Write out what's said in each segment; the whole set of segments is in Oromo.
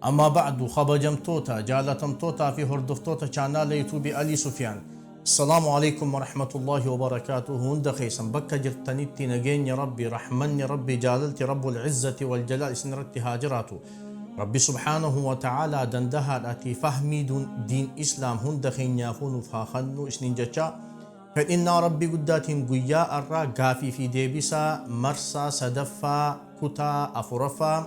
Amma ba'du kabajamtoota, jaalatamtootaa fi hordoftoota chaanaala youtube Alii Sufiyaan. Assalaamu Aleykum Warahmatullaahi Wabarakaatuhu Hunda keessan bakka jirtanitti nageenyi Rabbii, rahmanni Rabbii, jaalalti Rabbul Izzati wal Jalaal isin irratti haa jiraatu. Rabbi subhaanahu wa ta'aalaa dandahaadhaatii fahmii dun, diin Islaam hunda keenyaafuu nuuf haa kannu isniin jechaa fedhinnaa Rabbii guddaatiin guyyaa arraa gaafii fi deebisaa marsaa sadaffaa kutaa afuraffaa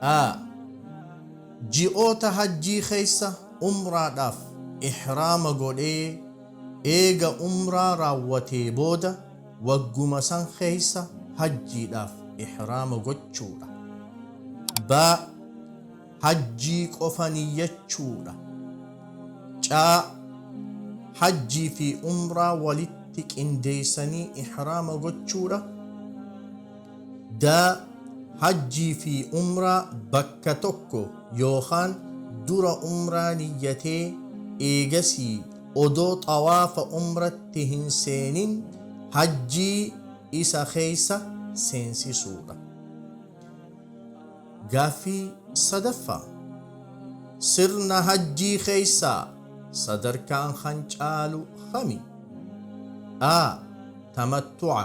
a. Ji'oota hajjii keessa umraadhaaf ihraama godhee eega umraa raawwatee booda wagguma san keessa hajjiidhaaf ihraama gochuudha. b. Hajjii qofa niyyachuudha. c. Hajjii fi umraa walitti qindeeysanii ihraama gochuudha. D. Hajjii fi Umraa bakka tokko yookaan dura Umraa niyyatee eegasii odoo xawaafa Umratti hin seenin Hajjii isa keessa seensisuudha. Gaaffii 3ffaa. Sirna Hajjii keessaa sadarkaan kan caalu kami? A. Tamattu'a.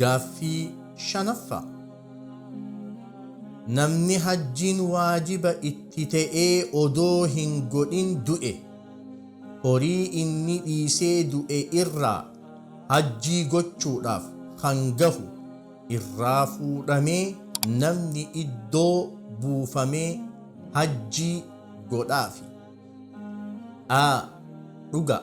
Gaaffii 5ffaa. Namni hajjiin waajiba itti ta'ee odoo hin godhin du'e, horii inni dhiisee du'e irraa hajjii gochuudhaaf kan gahu irraa fuudhamee namni iddoo buufamee hajjii godhaafi. a. Dhugaa.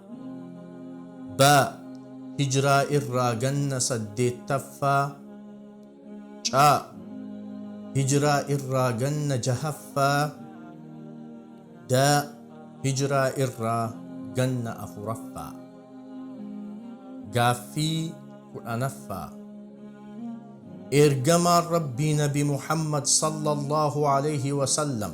B. Hijraa irraa ganna saddeettaffaa C. Hijraa irraa ganna jahaffaa D. Hijraa irraa ganna afuraffaa Gaaffii kudhanaffaa Eergamaan Rabbii Nabi Muhammad sallallahu alayhi wa sallam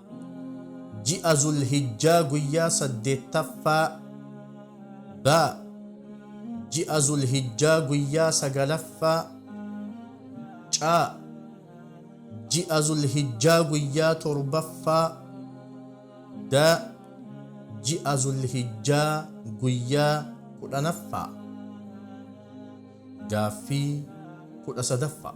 ji'a Zul-Hijjaa guyyaa saddeettaffaa, B. Ji'a Zul-Hijjaa guyyaa sagalaffaa, C. Ji'a Zul-Hijjaa guyyaa torbaffaa, D. Ji'a Zul-Hijjaa guyyaa kudhanaffaa. Gaaffii kudha sadaffaa.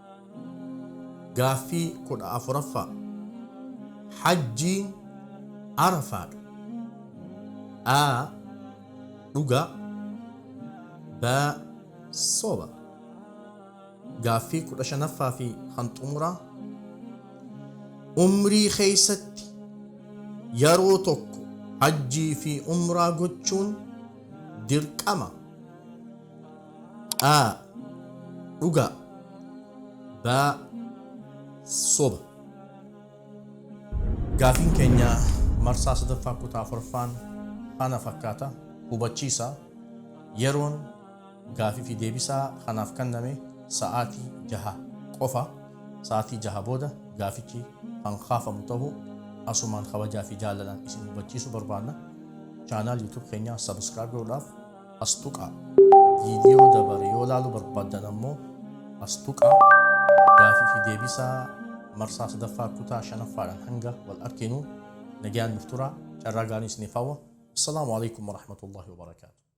Gaaffii 14ffaa Hajjiin Arafaadha. A. Dhugaa B. Soba Gaaffii 15ffaa fi kan xumuraa Umrii keessatti yeroo tokko hajjii fi umraa gochuun dirqama. Qaa dhugaa Baa soba Gaafiin keenya marsaa sadaffaa kutaa afuraffaan kana fakkaata hubachiisa yeroon gaafii fi deebisaa kanaaf kenname sa'aatii jaha qofa sa'aatii jaha booda gaafichi kan kaafamu ta'uu asumaan kabajaa fi jaalalaan isin hubachiisu barbaanna chaanaal yuutuub keenyaa sabiskiraayib godhuudhaaf as tuqaa. Viidiyoo dabare yoo ilaaluu barbaaddan ammoo as tuqaa. Gaafii fi deebisaa marsaa sadaffaa kutaa shanaffaadhaan hanga wal arginu nagaan nuuf turaa carraa gaarii isiniif hawwa. Assalaamu alaikum warahmatullahi wabarakaatu.